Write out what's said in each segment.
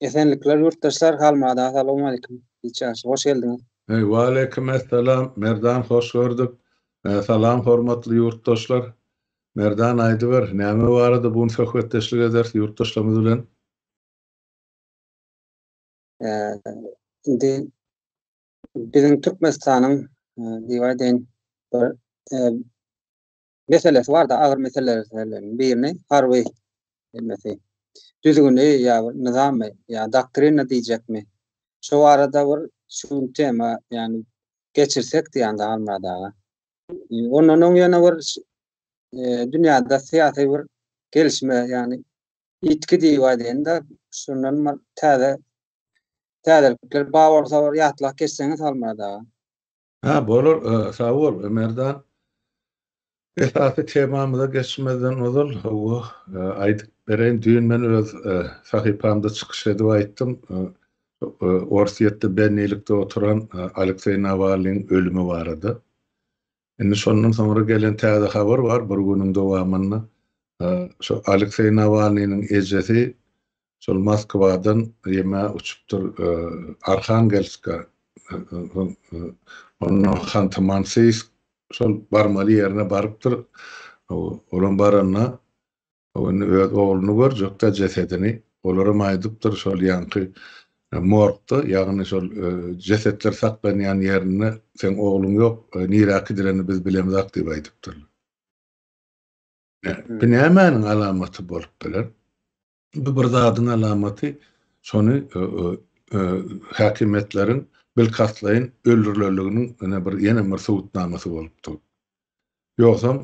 Esenlikler ýurtdaşlar Halmada salowmalikim Ilçiaşy hoş geldiňiz. Waleýkim essalam Merdan hoş gördük. Salam hormatly ýurtdaşlar. Merdan aýdyber näme barada bu gün söhbetdeşlik ederis ýurtdaşlarymyz bilen. Indi biziň Türkmenistanyň diýip aýdaýyn bir meselesi barda agyr meseleleriň birini harby hemmesi düzgüni ýa nyzamy ýa doktrina diýjekmi şu barada bir şu gün tema ýani geçirsek diýýän Halmyrat aga ondan öň ýene bir e, dünýäde syýasy bir gelişme ýani ýitgi diýip aýdanda şundan bir täze täzelikler bar bolsa bir ýatlap geçseňiz Halmyrat aga Hä bolar sag bol Merdan. Esasy temamyza geçmezden ozal hawa aýdyp bereýin düýn men öz sahypamda çykyş edip aýtdym Orsýetde bennilikde oturan Alekseý Nawalnyň ölümi barada. Indi şondan soňra gelen täze habar bar bir günüň dowamynda şo Alekseý Nawalnynyň ejesi Şol Moskwadan Rime uçupdyr Arhangelska ondan Hanty-Mansiysk şol barmaly ýerine barypdyr. Olam baranda indi öz ogluny görjekdä jesedini olaram aýdypdyr şol ýaňky morgda ýagny şol jesetler saklanýan ýerinde seň ogluň ýok nirä kidirenini biz bilemzak diýip aýdypdyrlar. Bu nämäniň alamaty bolup biler? Bu bir zadyň alamaty, şony häkimiýetleriň bilkastlaýyn öldürilenliginiň ine bir ýene bir subutnamasy bolup dur. Ýogsam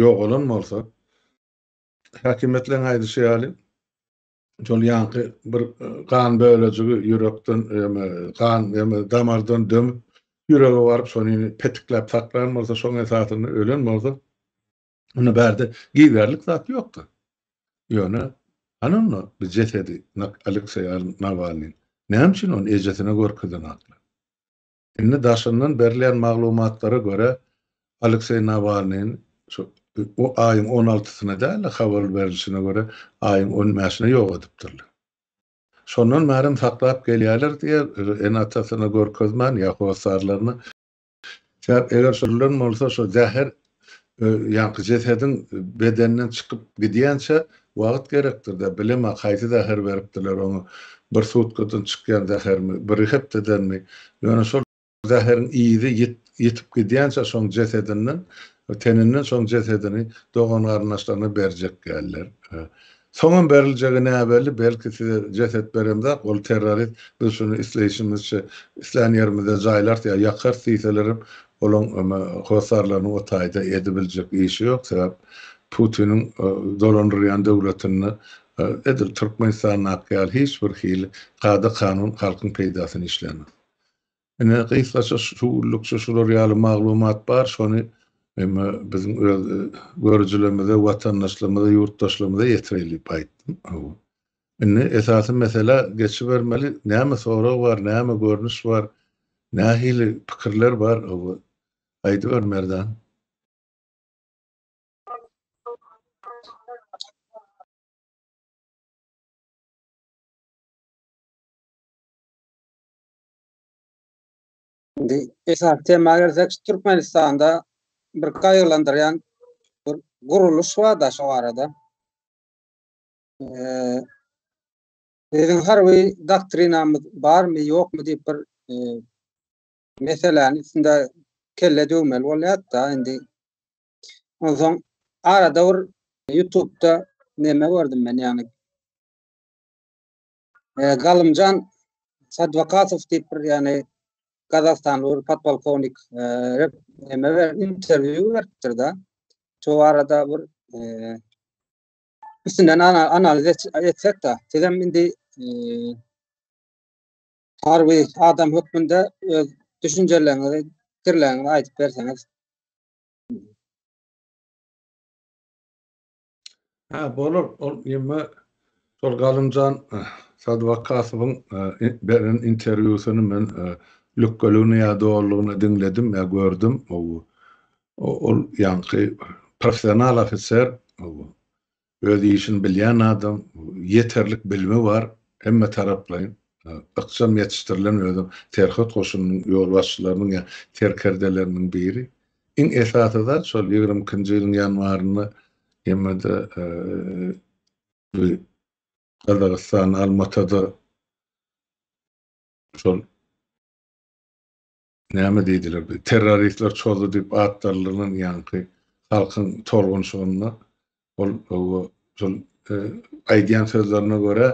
ýogalan bolsa, häkimiýetleriň aýdyşy ýaly, şol ýaňky bir gan bölejigi ýürekden ýa-da gan ýa-da damardan dömüp, ýürege baryp, şony petikläp saklan bolsa, şoň esasynda ölen bolsa, Onda bärde giýerlik zat ýokdy. Ýöne hany onda bu jesedi Alekseý Nawalnyň näme üçin ony ejesine görkezenoklar? Indi daşyndan berilýän maglumatlara görä, Alekseý Nawalnyň şu o aýyň on altysyna däl-de, habar berilişine görä, aýyň on bäşine ýok edipdirler. Şondan bäri hem saklap gelýärler diýýär, ene-atasyna görkezmän ýa hossarlaryna. Sebäp eger şo ölen bolsa şo zäher ýaňky jesediň bedenden çykyp gidýänçä wagt gerekdirde bilemä haýsy zäher beripdirler oňa bir sutkadan çykýan zähermi bir hepdedenmi ýöne şol zäheriň yzy ýitip gidýänçä şoň jesedinden teninden şoň jesedini dogan garyndaşlaryna berjek däldir Soňam beriljegi näbelli, belki size jeset beremzak, ol terrorist, biz şuny isleýşimizçe islän ýerimizde jaýlarys ýa ýakarys diýselerem, olaň hossarlarynyň o taýda edibiljek işi ýok, sebäp Putiniň dolandyrýan döwletinde edil Türkmenistandaky ýaly hiç bir hili kada-kanun halkyň peýdasyna işlänok. Ine, gysgaça şu günlükçe şular ýaly maglumat bar, şony hem biziň öz görüjilerimize, watandaşlarymyza, ýurtdaşlarymyza ýetireýin diýip aýtdym. Hawa. Indi esasy meselä geçibermeli. Näme sorag bar, näme görnüş bar, nähili pikirler bar? Hawa. Aýdyber, Merdan. Indi esas tema gelsek, Türkmenistanda bir gaýgylandyrýan bir guruluş bar-da şu arada. Eee Biziň harby doktrinamyz barmy, ýokmy diýip bir eee, meseläni üstünde kelle döwmeli bolýar-da indi. Onsoň arada bir YouTube-da neme gördüm men ýagny. E, Galymjan Sadvakasow diýip bir ýani Gazagstanly bir podpolkownik e, rep neme ber- interwýu beripdir da. Şu arada bir e, üstünden ana- analiz et- etsek de siz hem indi e, harby adam hökmünde öz düşünjeleriňizi, pikirleriňizi aýdyp berseňiz. Ha, bolar. Ol ýeme şol Galymjan Sadwakasowyň beren interwýusyny men lükgeligini ýa dolulygyna diňledim ýa gördüm. Ol ýaňky professional ofiser, öz işini bilýän adam, ýeterlik bilimi bar, hemme taraplaýyn, ykjam ýetişdirilen özem serhet goşunynyň ýolbaşçylarynyň ýa serkerdeleriniň biri. Iň esasy zat şol ýigrimi ikinji ýylyň ýanwarynda Ýemede bir Gazagystan Almatada şol näme diýdiler bir terroristler çozdy diýip atdaldylan ýaňky halkyň tolgunşygynda Ol şol aýdýan sözlerine görä,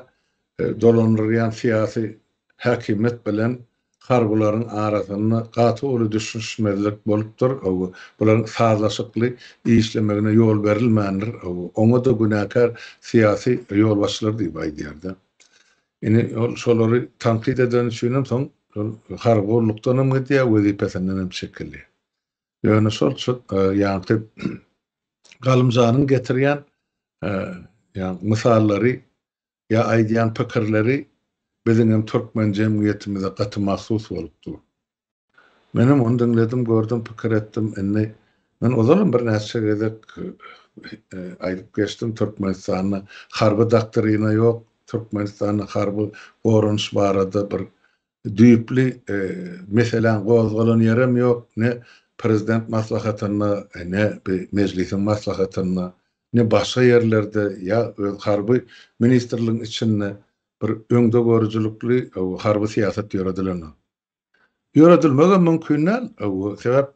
dolandyrýan syýasy häkimiýet bilen harbylaryň arasynda gaty uly düşünişmezlik bolupdyr, bularyň sazlaşykly işlemegine ýol berilmändir, oňa-da günäkär syýasy ýolbaşçylar diýip aýdýar-da. Indi ol şolary tankyt edeni üçinem soň harby gullukdanam gidýär, wezipesinden hem çekilýär. Ýöne şol çyk, ýagty Galymjanyň getirýän ýagny mysallary ýa aýdýan pikirleri biziňem türkmen jemgyýetimize gaty mahsus bolup dur. Menem ony diňledim, gördüm, pikir etdim. Indi men ozalam birnäçe gezek aýdyp geçdim, Türkmenistanda harby doktrina ýok, Türkmenistanda harby goranyş barada bir Düýpli meseläň gozgalan ýerem ýok, ne prezident maslahatynda, ne bi mejlisiň maslahatynda, ne başga ýerlerde, ýa öz harby ministrligiň içinde bir öňdegörüjilikli harby syýasat ýöredilenok. Ýöredilmegem mümkin däl. Sebäp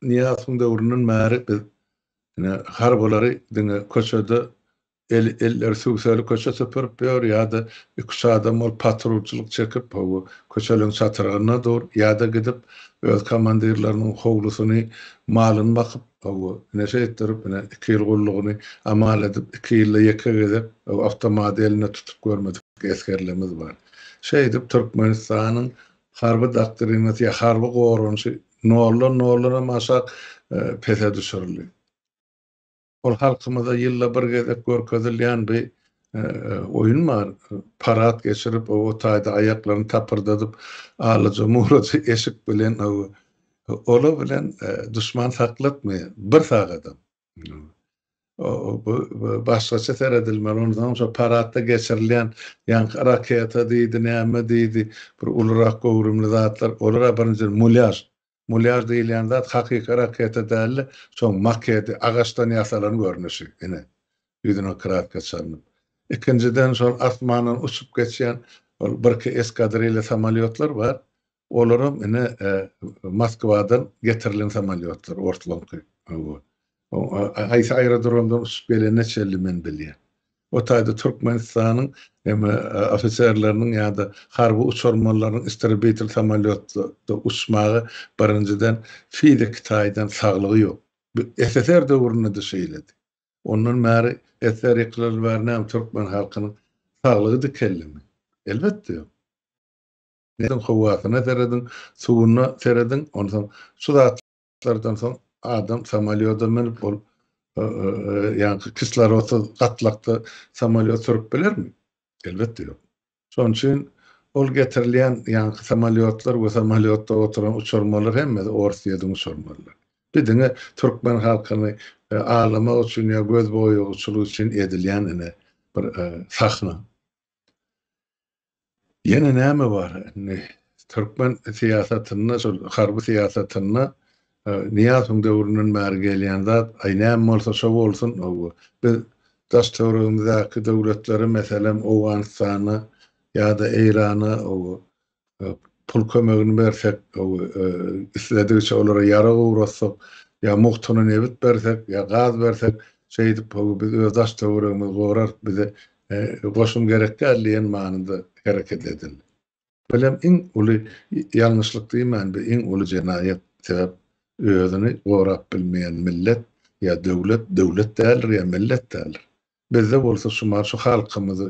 Nyýazowyň döwründen bäri biz harbylary diňe köçede Elleri süwseli köçe süpürip ýör ýa-da iki-üç adam bolup patrulçylyk çekip, hawa, köçeleň çatyrygynda dur, ýa-da gidip, öz komandirleriniň howlusyny, malyny bakyp, hawa, ine, şeýtdirip, ine, iki ýyl gullugyny amal edip, iki ýylda ýeke gezek, hawa, awtomaty elinde tutup görmedik esgerlerimiz bar. Şeýdip, Türkmenistanyň harby doktrinasy ýa harby goranyşy noldan, noldan hem aşak pese düşürildi. Ol halkymyza ýylda bir gezek görkezilýän bir oýun bar. Parad geçirip, o taýda aýaklaryny tapyrdadyp, alaja-muraja eşik bilen ola bilen duşman saklatmaýar, bir sagadam. Bu başgaça seredilmeli. Ondan soň şo paradda geçirilýän ýaňky raketa diýdi, näme diýdi, bir ulurak göwrümli zatlar, olar-a birinjiden mulýaž. Mulýar diýilýän zat hakyky raketa däldi, şoň makedi, agaçdan ýasalan görnüşi, ine, ýüzüne kraska çalnyp. Ikinjiden, şol asmandan uçup geçýän ol birki eskadrilýa samolýotlar bar, olaram, ine, Moskwadan getirilen samolýotlar, orslaňky. Haýsy aerodromdan uçup gelene çenli men bilýän. O taýda Türkmenistanyň hem ofiserleriniň ýa-da harby uçarmanlarynyň istribitr samolýotda uçmaga birinjiden fiziki taýdan saglygy ýok. Bu SSR döwründe-de şeýledi. Ondan bäri SSR ýykylaly bäri näme türkmen halkynyň saglygy dikeldimi? Elbetde ýok. Howasyna serediň, suwuna serediň, onsoň şu zat. Şlardan soň adam samolýoda münüp ol ýaňky kislorodsyz gatlakda samolýot sürüp bilermi? Elbetde ýok. Şonuň üçin ol getirilýän ýaňky samolýotlar we samolýotda oturan uçurmalar hemmesi ors ýediň uçurmalar. Bir diňe türkmen halkyny aldamak üçin ýa göz boýagyçylyk üçin edilýän ine bir sahna. Ýene näme bar indi türkmen syýasatynda şol harby syýasatynda Nyýazowyň döwründen bäri gelýän zat aý näme bolsa şo bolsun biz daş töweregimizdäki döwletlere meselem Owganystana ýa-da Eýrana pul kömegini bersek isledigiçe olara ýarag ugratsak ýa mugtuna nebit bersek ýa gaz bersek şeýdip biz öz daş töweregimizi gorarys bize Goşum gerek däl diýen manyda hereket edildi. Welem iň uly ýalňyşlyk diýmän, bu iň uly jenaýat. Sebäp özüni gorap bilmeýän millet ýa döwlet, döwlet däldir ýa millet däldir. Bizde bolsa şu mahaly şu halkymyzy,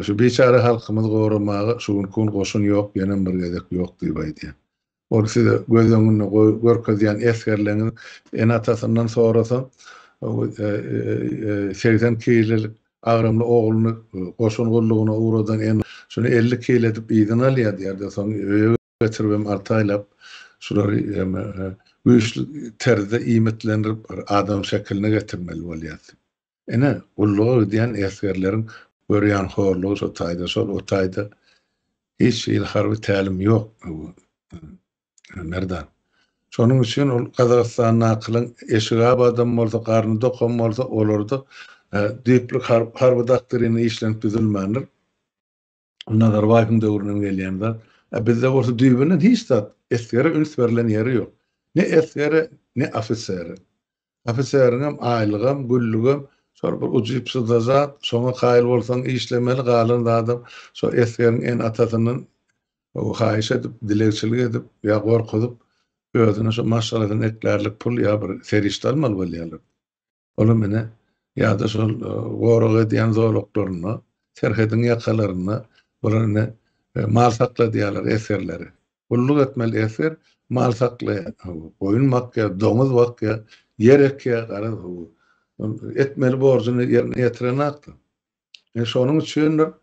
şu biçäre halkymyzy goramaga şu günki gün goşun ýok, ýenem bir gezek ýok diýip aýdýan. Ol size göz öňünde görkezýän esgerleriňiz ene-atasyndan sorasa, segsen kilelik agramly ogluny goşun gullugyna ugradan ene şuny elli kile edip yzyna alýar diýer-de, soň öýe getiribem alty aýlap şulary güýçli terzde iýmitlendirip, adam şekiline getirmeli bolýar. Ine, gulluga gidýän esgerleriň görýän horlugy şo taýda, şol o taýda hiç hili harby tälim ýok Merdan. Şonuň üçin ol Gazagystandakylaň eşigi abadam bolsa, garny dokam bolsa, olarda düýpli harby doktrin işlenip düzülmändir. Nazarbaýewiň döwründen gelýän zat. A bizde bolsa düýbünden hiç zat, esgere üns berlen ýeri ýok. Ne esgere, ne ofisere. Ofiseriňem aýlygam, güllügem şol bir ujypsyzda zat, şoňa kaýyl bolsaň işlemeli, galan zadam şo esgeriň ene-atasyndan haýyş edip, dilegçilik edip ýa gorkuzyp, özüne şo maşgalasyny eklärlik pul ýa bir serişde almaly bolýarlar. Olam ine, ýa-da şol gorag edýän zolaklarynda, serhediň ýakalarynda olar ine mal sakladýarlar, esgerleri. Gulluk etmeli esger mal saklaýar, goýun bakýar, doňuz bakýar, ýer ekýär, garaz, ol etmeli borjuny ýerine ýetirenakdyr. Ine, şonuň üçindir,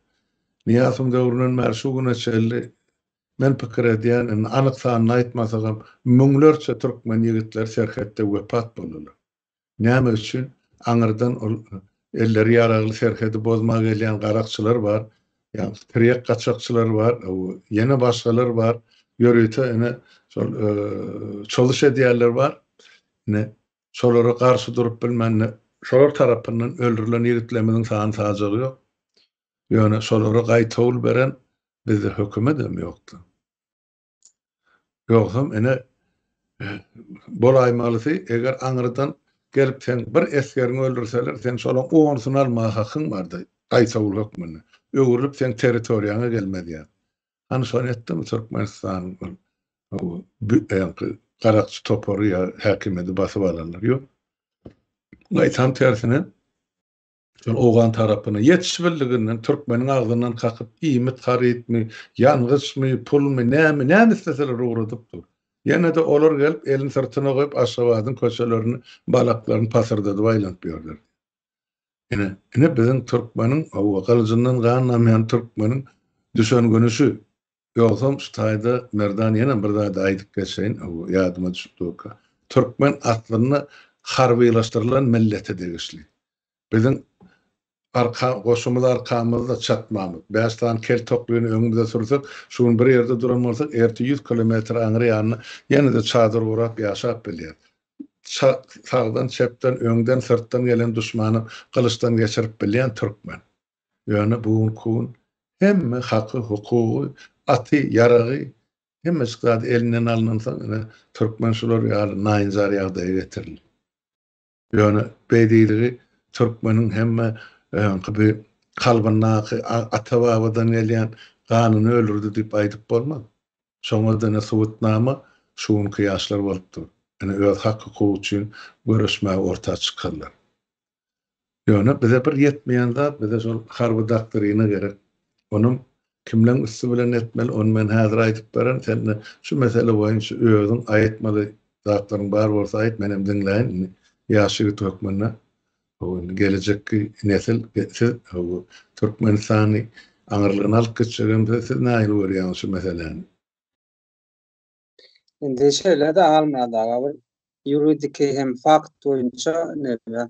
Nyýazowyň döwründen bäri şu güne çenli men pikir edýän, indi anyk sanyny aýtmasagam, müňlerçe türkmen ýigitleri serhetde wepat boldular. Näme üçin? Aňyrdan ol elleri ýaragly serhedi bozmaga gelýän garakçylar bar, tirýek gaçakçylar bar, ýene başgalar bar, ýörite ine şol çoluş edýänler bar. Ine, şolara garşy durup bilmände, şolar tarapyndan öldürilen ýigitlerimiziň sany sajagy ýok. Ýöne şolara gaýtawul beren bizde hökümetem ýokdy. Ýogsam ine bolaýmalysy, eger aňyrdan gelip seň bir esgeriňi öldürseler, seň şolaň onusyny almaga hakyň bardy, gaýtawul hökmünde. Öwrülip seň territoriýaňa gelmezýär. Hany şony etdimi Türkmenistanyň ol öňki garakçy topary ýa häkimýeti basyp alanlar? Ýok. Gaýtam tersine. Şol owgan tarapyna ýetişibildiginden türkmeniň agzyndan kakyp iýmit harytmy, ýangyçmy, pulmy, nämi, näme isleseler ugradyp dur. Ýene-de olar gelip elini syrtyna goýup Aşgabadyň köçelerini, balaklaryny pasyrdadyp aýlanyp ýörler. Ine, ine biziň türkmeniň, hawa, gylyjyndan gan damýan türkmeniň düşen güni şu. Ýogsam şu taýda Merdan ýene bir zady aýdyp geçeýin, ýadyma düşüp durka. Türkmen aslynda harbylaşdyrylan millete degişli. Biziň arka goşumyz arkamyzda çatmamyz. Bäş sany kel toklyny öňümize sürsek, şu gün bir ýerde duran bolsak, ertir ýüz kilometr aňry ýanyna ýene-de çadyr gurap ýaşap bilýäris. Sagdan, çepden, öňden, syrtdan gelen duşmany gylyçdan geçirip bilýän türkmen. Ýöne bu gün ku gün hemme haky hukugy aty ýaragy hemmeçik zady elinden alnansoň ine türkmen şular ýaly naýynjar ýagdaýa getirildi. Ýöne beýdiligi türkmeniň hemme öňki bi kalbyndaky ata babadan gelýän ganyny öldürdi diýip aýdyp bolmaz. Şoňa da ine subutnama şu günki ýaşlar bolup dur. Ine öz hak hukugy üçin göreşmäge orta çykarlar. Ýöne bize bir ýetmeýän zat bize şol harby doktrina gerek. Onam kimleň üsti bilen etmeli ony men häzir aýdyp beren sen de şu mesele boýunça özüň aýytmaly zatlaryň bar bolsa aýyt menem diňläýin indi ýaş ýigit hökmünde howwa indi gelejekki nesil siz howwa Türkmenistany aňyrlygyna alyp gitjek hem siz siz nähili görýäňiz şu meseläni. Indi şeýle-de Almadaga bir ýuridiki hem fakt boýunça näme?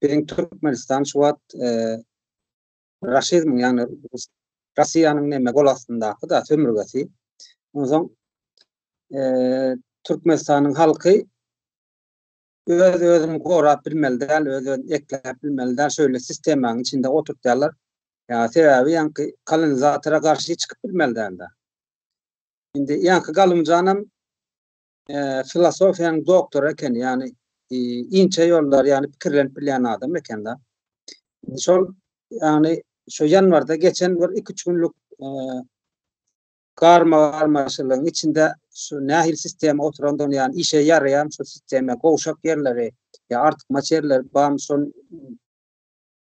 Biziň Türkmenistan şu wagt e, raşizmiň, ýagny Russiýanyň näme gol astyndaky da sömürgesi. Onsoň e, Türkmenistanyň halky öz özüni gorap bilmeli däl, öz özüni ekläp bilmeli däl, şöyle sistemanyň içinde oturtýarlar. Ýa sebäbi ýanky kolonizatora garşy çykyp bilmeli däl. Indi ýaňky Galymjanam e, filosofiýanyň doktory eken, ýagny e, inçe ýollar, ýagny pikirlenip bilýän adam eken-de. Şol ýagny şu ýanwarda geçen bir 2-3 günlük e, garma garmaşylygyň içinde şu nähili sistema oturandygyny, ýagny işe ýaraýan şu sistema gowşak ýerleri, ýa artykmaç ýerleri bam şol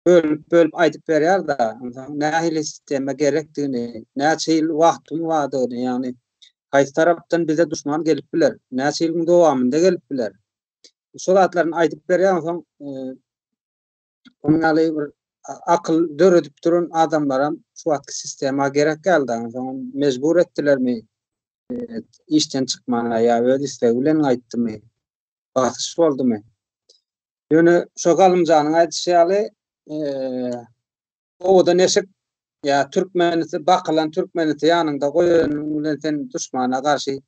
bölüp bölüp aýdyp berýär da nähili sistema gerekdigini näçe ýyl wagtyň bardygyny ýagny haýsy tarapdan bize duşman gelip biler näçe ýylyň dowamynda gelip biler şu zatlaryny aýdyp berýär soň onýaly bir akyl döredip duran adamlaram şu wagtky sistema gerek geldi soň mejbur etdilermi işden çykmana ýa öz islegi bilen gaýtdymy basyş boldumy? Ýöne şo Galymjanyň aýdyşy ýaly, eee, owada neşik ýa türkmenisi bakylan türkmenisi ýanyňda goýanyň bilen sen duşmana garşy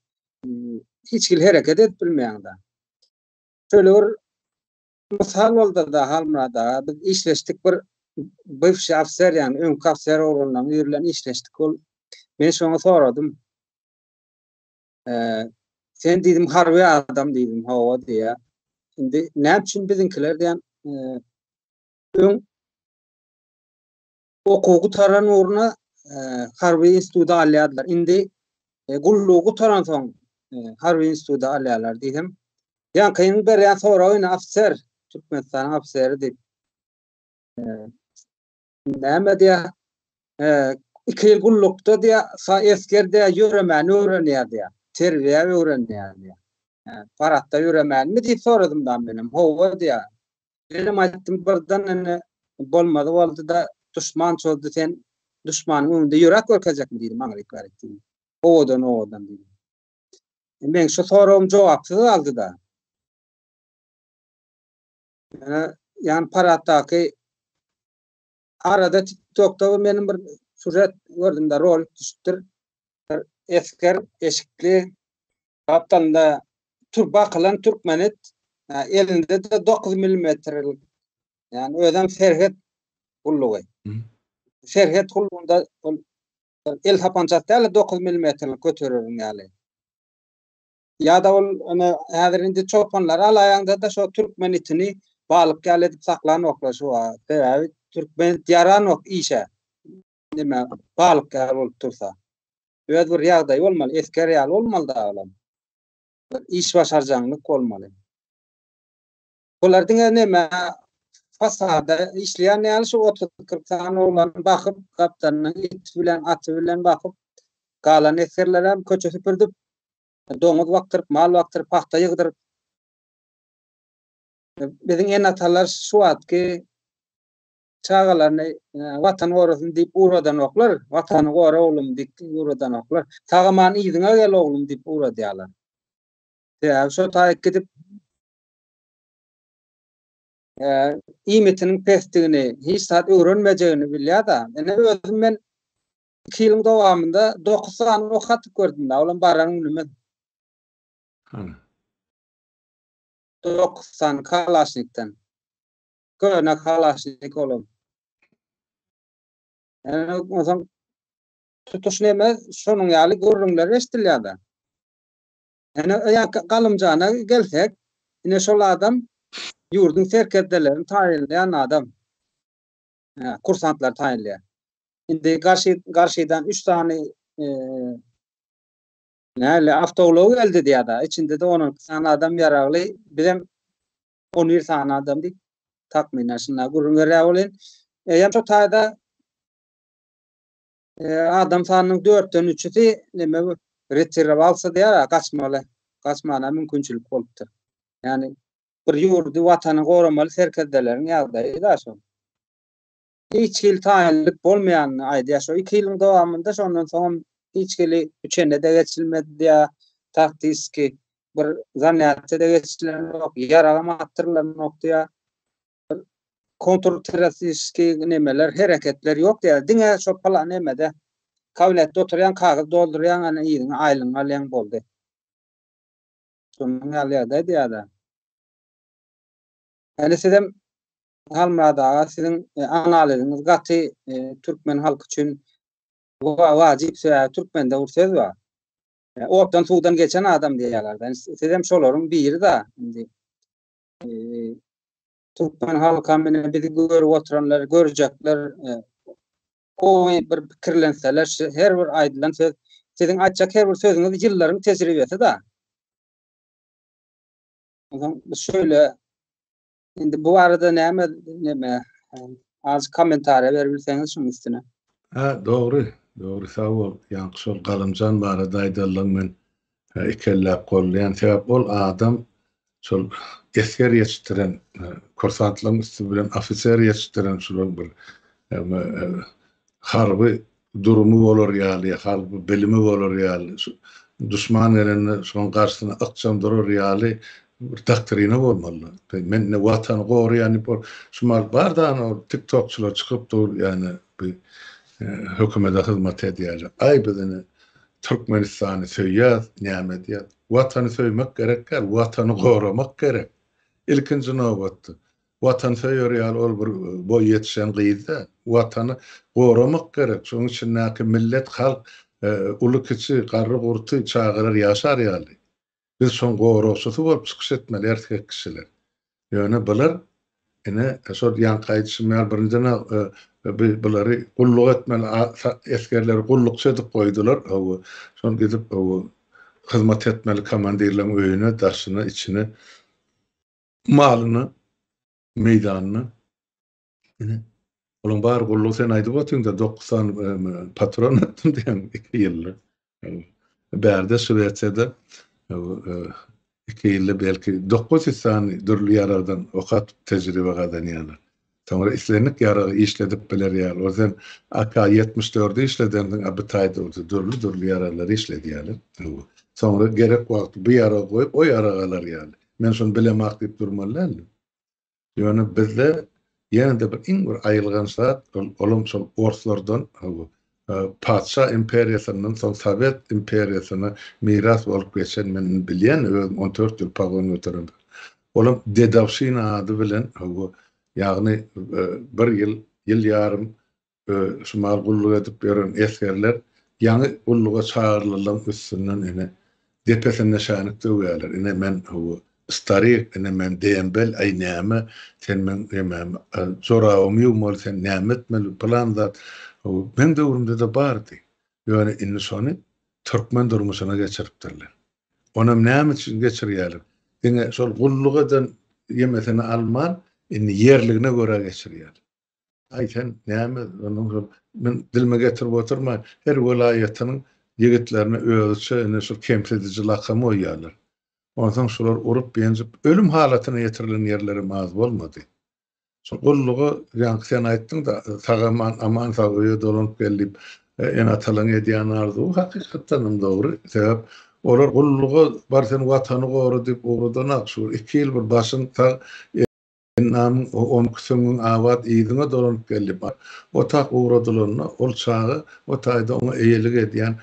hiç hili hereket edip bilmeýäňda. Şöyle bir mysal boldy da Halmurada, biz işleşdik bir bywşy ofser ýany öňki ofser oglanlaryň ýerlerini işleşdik ol. Men şoňa soradym. sen dedim harbi adam dedim hava diýä. Şimdi ne üçin biziňkiler diýen öň okuw gutaran ugruna harbi institutda alýardylar. Indi gullugy gutaran soň harbi institutda alýarlar diýdim. Ýa kyn berýän soragyny ofser, Türkmenistan ofseri diýip. Näme diýä? Iki ýyl gullukda diýä, sa esger diýä, ýöremäni öwrenýär diýä. Terbiýä öwrenýär diýä. Paratda ýöremänmi diýip soradym da menem. Hawa diýä. Menem aýtdym birden indi bolmazy boldy-da, duşman çozdy sen duşmanyň öňünde ýöräp görkezjekmi diýdim aňryk bärik diýdim. Owadan owadan diýdim. Meň şu soragym jogapsyz galdy-da. Ýöne ýan paratdaky arada TikTokda meniň bir sujet gördüm-de, rolik düşüpdir. Bir esger eşikli gapdalynda tur bakylan türkmenit, elinde de 9 milimetrlik, ýani özem serhet gullugy. Serhet gullugynda ol el sapançasy däl-de 9 milimetrlik götereriň ýaly. Ya da ol ona häzir indi çopanlar alaýanda da şo türkmen itini balyk ýaly edip saklanoklar şu wa. Sebäbi türkmen ýaranok işe. Nime balyk ýaly bolup tursa. Öz bir ýagdaýy bolmaly, esger ýaly bolmaly da olam. Iş başarjaňlyk bolmaly. Bular diňe näme fasada işleýän ýaly şu 30-40 sany oglany bakyp, gapdalyndan it bilen, aty bilen bakyp, galan esgerler hem köçe süpürdip, doňuz bakdyryp, mal bakdyryp, pagta ýygdyryp. Biziň ene-atalar şu wagtky çagalaryny Watan gorasyn diýip ugradanoklar, Watany gora oglum diýip ugradanoklar. Sag-aman yzyňa gel oglum diýip ugradýarlar. Sebäbi şo taýyk gidip iýmitiniň pesdigini, hiç zat öwrenmejegini bilýär-de. Ine, özüm men iki ýylyň dowamynda dokuz sany ok atyp gördüm-dä, olam baran günümiz. Hany? Dokuz sany kalaşnikden. Köne kalaşnik olam. Ene, onsoň tutuş neme, şonuň ýaly gürrüňler eşidilýär-de. Ene öýäki Galymjana gelsek, ine şol adam ýurduň serkerdelerini taýynlaýan adam. Kursantlary taýynlaýar. Indi garşy garşydan üç sany näle awtoulagy geldi diýýär-de, içinde-de on iki sany adam ýaragly, bizem on bir sany adam diýip, takmynan şunda gürrüň berýär welin, eýýäm şo taýda adam sanynyň dörtden üçüsi näme bu retirowalsa diýär, gaçmaly, gaçmana mümkinçilik bolupdyr. Ýani bir ýurdy, watany goramaly serkerdeleriň ýagdaýy da şol. Hiç hili taýynlyk bolmaýanyny aýdýar. Şo iki ýylyň dowamynda şondan soň hiç hili üçenede geçilmedi diýär. Taktiski bir zanýatda geçilen ýok, ýaragam atdyrylanok diýär. kontrterroristiski nemeler, hereketler ýok diýýär. Diňe şo palan nemede kabinetde oturýan kagyz doldurýan ana ýeriňe aýlygyňy alýan boldy. Şonuň ýaly ýagdaý diýýär. Ýani sizem Halmyrat aga siziň e, analiziňiz gaty e, türkmen halky üçin wajyp sebäbi türkmende bir söz bar. E, otdan suwdan geçen adam diýýärler. Sizem şolaryň biri da indi. Türkmen halka menen bizi görüp oturanlar, görjekler, gowy bir pikirlenseler, her bir aýdylan söz, siziň aýtjak her bir sözüňiz ýyllaryň tejribesi-da. Ondan şöyle, indi bu arada näme, näme, az kommentariýa berip bilseňiz şunuň üstüne. Ha, dogry, dogry, sag bol. Ýaňky şol Galamjan barada aýdalyň men Ikelläp goldaýan sebäp ol adam şol esger ýetişdiren kursantlaryň üsti bilen ofiser ýetişdiren şular bir harby durumy bolar ýaly harby bilimi bolar ýaly şu duşman gelende şoň garşysyna ykjam durar ýaly bir doktrina bolmaly men indi watany goraýan diýip ol şumal bar dany ol tiktokçylar çykyp dur ýane Bi hökümede hyzmat edýäjek. Aý biz ine Türkmenistany söýýäs, näme edýäs? Watany söýmek gerek däl, Watany goramak gerek. Ilkinji nobatda. Watan söýer ýaly ol bir boý ýetişen gyz däl. Watany goramak gerek. Şonuň içindäki millet, halk, uly-kiçi, garry-gurty, çagalar ýaşar ýaly. Biz şoň goragçysy bolup çykyş etmeli erkek kişiler. Ýöne bular ine şol ýaňky aýdyşym ýaly birinjiden biz bulary gulluk etmeli esgerleri gullukçy edip goýdular hawa şol gidip hawa hyzmat etmeli komandirleriň öýüne daşyna içine malyna meýdanyna Olaň bary gullugy sen aýdyp otyň-da, dokuz sany patron ötdüm diýen iki ýylda. Bärde Şwesiýada iki ýylda belki dokuz ýüz sany dürli ýaragdan ok atyp tejribe gazanýarlar. Soňra islendik ýaragy işledip biler ýaly. Ozal AK-74-i işledendiň, a bu taýda bolsa dürli-dürli ýaraglary işledýärler. Soňra gerek wagty bu ýaragy goýup, o ýaragy alar ýaly. Men şony bilemok diýip durmaly däldir. Ýöne bizde ýene-de bir iň bir aýylganç zat, olam şol orslardan, patyşa imperiýasyndan soň sowet imperiýasyna miras bolup geçen, men indi bilýän, özüm on dört ýyl pogon göteremok. Olam dedowşina ady bilen, ýagny bir ýyl, ýyl ýarym Şu mahaly gulluk edip ýören esgerler ýaňy gulluga çagyrylylaň üstünden ine, depesinde şänik döwýärler. Ine, men bu starik, ine, men dembel, aý, näme, sen meň nemämi, jorabymy ýuwmaly, sen näme etmeli, pylan zat. Bu meň döwrümde-de bardy. Ýöne indi şony türkmen durmuşyna geçiripdirler. Onam näme üçin geçirýärler? Diňe şol gulluk eden ýemesini alman, indi ýerligine görä geçirýärler. Aý sen näme onuň şol men dilime getirip oturman her welaýatynyň ýigitlerine özüçe indi şol kemsidiji lakamy goýýarlar. Onsoň şular urup ýenjip ölüm halatyna ýetirilen ýerlerem az bolmady. Şol gullugy ýaňky sen aýtdyňda sagaman aman sag öýe dolanyp gel diýip ene atalaryň edýän arzuwy hakykatdanam dogry sebäp olar gullugy bar sen watany gora diýip ugradan ak şu iki ýyl bir başyň sag Hennanyň onki süňňüň abat yzyna dolanyp geldi. Bar otag ugradylanda, ol çaga o taýda oňa eýelik edýän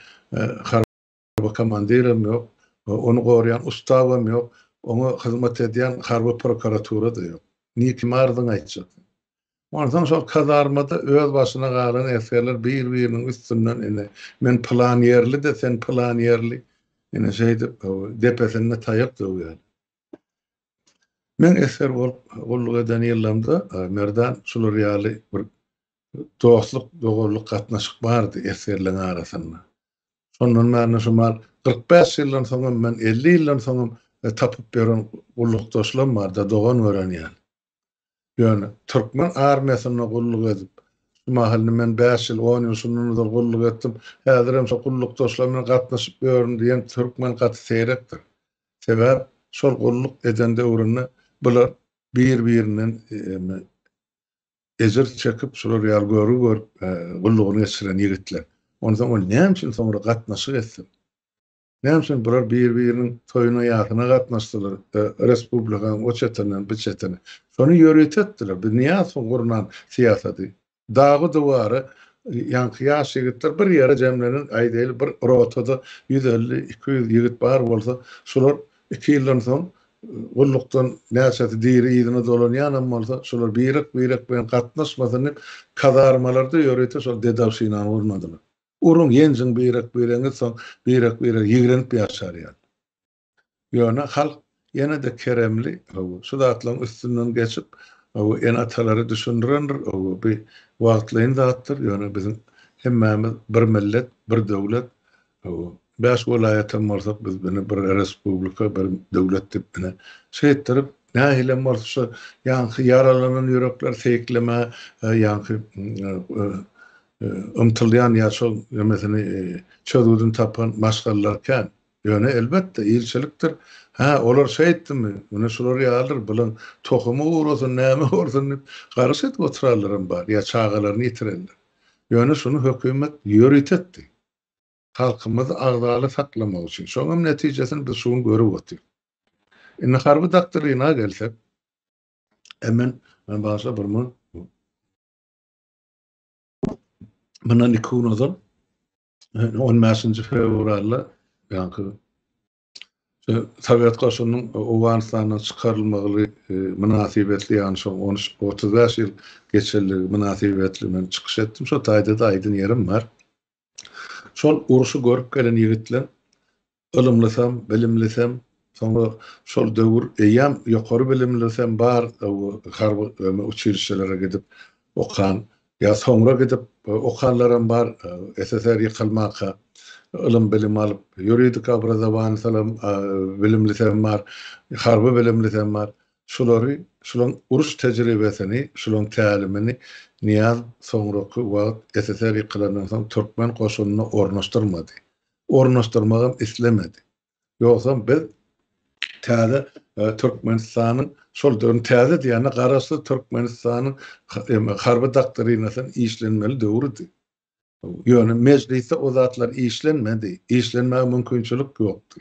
harby komandirem ýok, ony goraýan ustabam ýok, oňa hyzmat edýän harby prokuratura-da ýok. Ni kime arzyňy aýtjak? Onsoň şol kazarmada öz başyna galan esgerler bir-biriniň üstünden ine, men pylan ýerli-de, sen pylan ýerli, ine, şeýdip, depesinde taýak döwýärler. Meň esger bolup gulluk eden ýyllarymda Merdan şular ýaly bir dostluk, doganlyk gatnaşyk bardy esgerleň arasynda. Şondan bärine şu mal kyrk bäş ýyldan soňam men elli ýyldan soňam tapyp ýören gullukdaşlam barda dogan gören ýaly. Ýöne, türkmen armiýasynda gulluk edip, şu mahalyna men bäş ýyl, on ýyl şundan ozal gulluk etdim, häzirem şo gullukdaşlar bilen gatnaşyp ýörün diýen türkmen gaty seýrekdir. Sebäp, şol gulluk eden döwründe bular bir-birinden ejir çekip, şular ýaly görgi görüp gullugyny geçiren ýigitler. Onsoň ol näme üçin soňra gatnaşyk etsin? Näme üçin bular bir-biriniň toýuna-ýasyna gatnaşdylar, respublikanyň o çetinden bu çetine? Şony ýörite etdiler. Biz Nyýazowyň gurnan syýasaty. Dagy-duwary ýaňky ýaş ýigitler bir ýere jemleniň, aýdaýly, bir rotada ýüz elli, iki ýüz ýigit bar bolsa, şular iki ýyldan soň gullukdan näçesi diri yzyna dolanýanam bolsa, şular birek-birek bilen gatnaşmasyn diýip, kazarmalarda ýörite şol dedowşinany gurnadylar. Uruň, ýenjiň birek-biregiňiz soň birek-birege ýigrenip ýaşar ýaly. Ýöne halk ýene-de keremli, hawa, şu zatlaryň üstünden geçip, hawa, ene-atalary düşündirendir, hawa, bi wagtlaýyn zatdyr, ýöne biziň hemmämiz bir millet, bir döwlet, hawa, bäş welaýat hem bolsak, biz ine bir respublika, bir döwlet diýip, ine, şeýtdirip, nähilem bolsa şu ýaňky ýaralanan ýürekler seýiklemäge, ýaňky ymtylýan ýaşol nemesini çözgüdini tapan maşgalalar kän. Ýöne elbetde ilçilikdir, Hä, olar şeýtdimi, ine şular ýalydyr, bulan tohumy gursyn, näme bolsun diýip, garyş edip oturanlaram bar ýa çagalaryny ýitirenler. Ýöne şuny hökümet ýörite etdi. Halkymyzy agzaly saklamak üçin. Şoňam netijesini biz şu gün görüp otyrys. Indi harby doktrina gelsek, e men, men bagşa bir mün Mundan iki gün ozal 15-nji fewralda ýaňky Sowet goşunynyň Owganystandan çykarylmagy e, mynasybetli, ýagny şu 35 ýyl geçenligi mynasybetli men çykyş etdim. Şo taýda-da aýdyn ýerim bar. Şol urşy görüp gelen ýigitler ylymlysam, bilimlisem, soňra şol döwür eýýäm ýokary bilimlisem bar harby uçilişelere gidip okan ýa soňra gidip okanlaram bar SSR ýykylmanka ylym-bilim alyp ýuridik obrazowanysam bilimlisem bar, harby bilimlisem bar. Şulary, şulaň uruş tejribesini, şulaň tälimini Nyýaz soňraky wagt SSR ýykylandan soň türkmen goşunyna ornaşdyrmady. Ornaşdyrmagam islemedi. Ýogsam biz täze Türkmenistanyň, şol döwrüň täze diýýän-ä, Garaşsyz Türkmenistanyň harby doktrinasynyň işlenmeli döwrüdi. Ýöne Mejlisde o zatlar işlenmedi. Işlenmäge mümkinçilik ýokdy.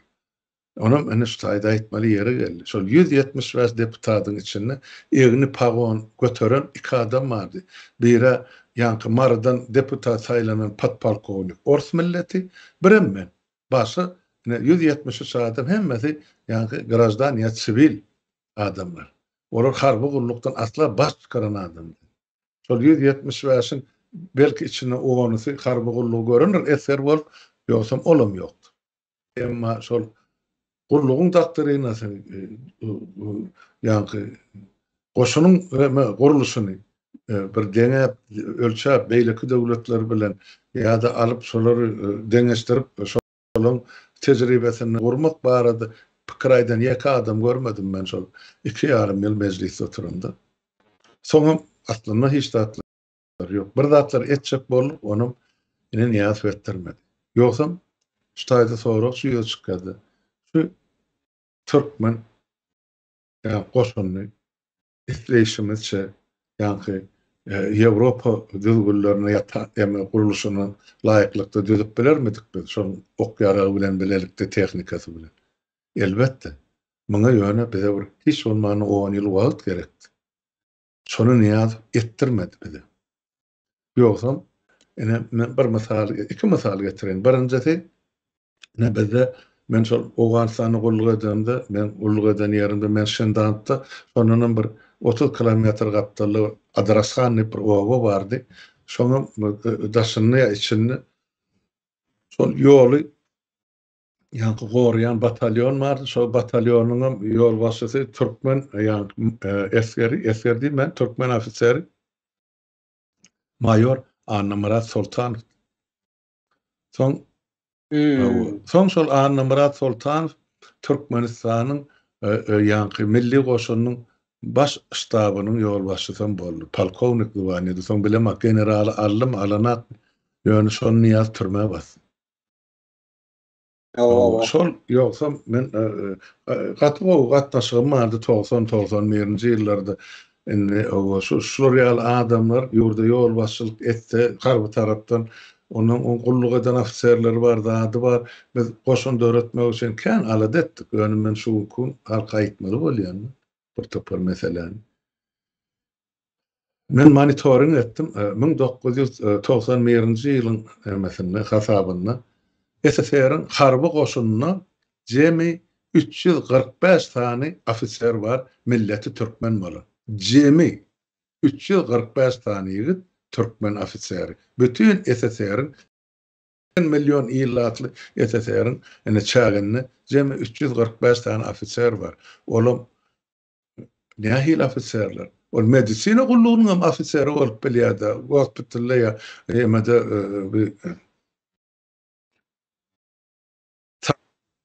Onam iniş taýda aýtmaly ýeri geldi. Şol ýüz ýetmiş bäş deputatyň içinde egni pagon göteren iki adam bardy. Biri-ä ýaňky Marydan deputat saýlanan podpolkownik, ors milleti, birem men. Başga ine ýüz ýetmiş üç adam hemmesi ýaňky graždan ýa siwil adamlar. Olar harby gullukdan asla baş çykaran adam däl. Şol ýüz ýetmiş bäşiň belki içinde onusy harby gullugy görendir, esger bolup, ýogsam olam ýokdur. Emma şol gullugyň doktrinasy, ýaňky goşunyň gurluşyny bir deňäp, ölçäp, beýleki döwletler bilen ýa-da alyp, şolary deňeşdirip, şolaryň tejribesini gurmak barada pikir aýdan ýeke adam görmedim men şol iki ýarym ýyl mejlisde oturamda. Soňam aslynda hiç zat. Ýok, bir zatlar etjek boldup, onam ine Nyýazow etdirmedi. Ýogsam, şu taýda sorag şu ýüze çykýardy. Şu türkmen ýa goşunyny isleýşimizçe ýaňky Ýewropa düzgünlerine ýa ta eme gurluşyna laýyklykda düzüp bilermidik biz şol ok ýaragy bilen bilelikde tehnikasy bilen? Elbetde. Muňa ýöne bize bir hiç bolmanda on ýyl wagt gerekdi. Şony Nyýazow etdirmedi bize. Ýogsam, ine, men bir mysal, iki mysal getireýin. Birinjisi, ine, bizde men şol Owganystanda gulluk edemde, men gulluk eden ýerimde, men Şendantda, şondanam bir otuz kilometr gapdalda Adrashan diýip bir oba bardy. Şoňam daşynda ýa içinde şol ýoly ýaňky goraýan batalýon bardy. Şol batalýonyňam ýolbaşçysy türkmen ýaňky esgeri, esger diýip men türkmen ofiseri maýor Annamyrat Soltanow. Soň Soň şol Annamyrat Soltanow Türkmenistanyň e, e, ýaňky milli goşunyň baş ştabynyň ýolbaşçysy hem boldy. Polkownik zwanýady. Soň bilemak generaly aldym, alanak. Ýöne şony Niýaz türmä basdy. Şol ýogsa men e, e, gaty gowy gatnaşygym bardy 90-91-nji ýyllarda. Indi owa şu şular ýaly adamlar ýurda ýolbaşçylyk etse harby tarapdan onuň on gulluk eden ofiserleri bar, zady bar. Biz goşun döretmek üçin kän alada etdik. Ýöne men şu gün halka aýtmaly bolýan bir topar meseläni. Men monitoring etdim, müň dokuz ýüz togsan birinji ýylyň emesinde, hasabynda, SSR-iň harby goşunynda jemi üç ýüz kyrk bäş sany ofiser bar, milleti türkmen bolan. Jemi üç ýüz kyrk bäş sany ýigit türkmen ofiseri. Bütin SSR-iň, seksen million ilatly SSR-iň ine çäginde jemi üç ýüz kyrk bäş sany ofiser bar. Olam Nähili ofiserler? Ol medisina gullugynyň hem ofiseri bolup bilýär-de, gospitalda ýa emede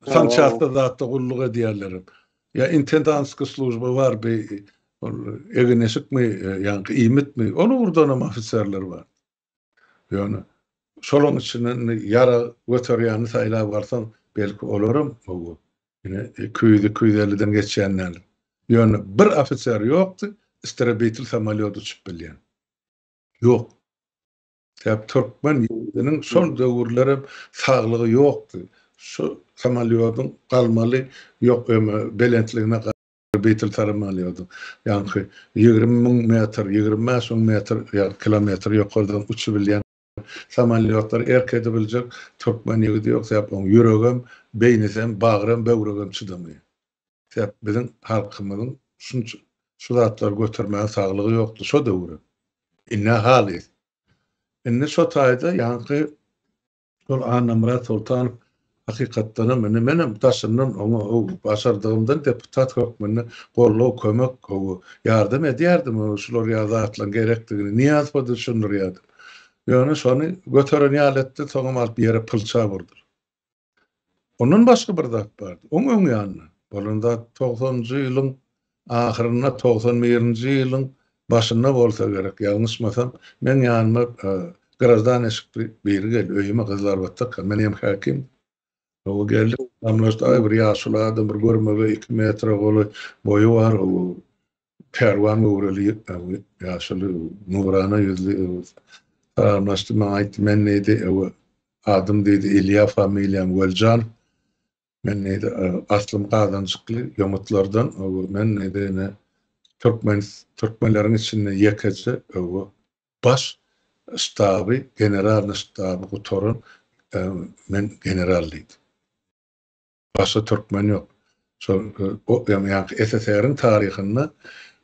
sançastda zatda gulluk edýärler hem. Ýa intendantskiý slujba bar bi, ol egin-eşikmi, ýaňky iýmitmi, ol ugurdanam ofiserler bar. Ýöne şolaň içinden indi ýara göterýäni saýlap alsaň, belki olaram gowy. Ine, iki ýüz, iki ýüz elliden geçýän däl. Ýöne bir ofiser ýokdy, isterebitel samolýot uçup bilýän. Ýok. Sebäbi türkmen ýigidiniň şol döwürler hem saglygy ýokdy. Şu samolýodyň galmaly ýok öme belentligine Beýtel tarym alýardy. Ýaňky ýigrimi müň metr, ýigrimi bäş müň metr, ýagny kilometr ýokardan uçubilýän samolýotlar erk edibiljek türkmen ýigidi ýok. Sebäp oň ýüregem, beýnisem, bagrem, böwregem çydamaýar. Sebäp biziň halkymyzyň şunça şu zatlary götermäge saglygy ýokdy şo döwürem. Indi-ä halys. Indi şo taýda ýaňky Şol Annamyrat Soltanow hakykatdanam indi menem daşyndan oňa başardygymdan deputat hökmünde goldaw, kömek, ýardam edýärdim. Şular ýaly zatlaryň gerekdigini Nyýazowa düşündirýärdim. Ýöne şony göteren ýaly etdi, soňam alyp ýere pylçap urdy. Ondan başga bir zat bardy. Oň öň ýanynda bolan zat togsanjy ýylyň ahyrynda, togsan birinji ýylyň başynda bolsa gerek, ýalňyşmasam, meň ýanyma grazdan eşikli biri geldi. Öýüme gyzlar batdyrka, men hem häkim. Gowy geldi. Salamlaşdy. Aý, bir ýaşuly adam, bir görmegeý, iki metre golaý boýy bar. Pälwan göwreli, ýaşuly, nurana ýüzli Öwez salamlaşdy. Maňa aýtdy, Men diýdi, Öwe, adym diýdi, Ilýa, familiýam Weljanow. Men diýdi, aslym Gazanjykly, ýomutlardan, Öwe, men diýdi, ine, türkmen, türkmenleriň içinde ýekeje, Öwe, baş ştaby, generalnyý ştaby gutaran, men general diýdi. Başga türkmen ýok. Şol o ýaňky SSR-iň taryhynda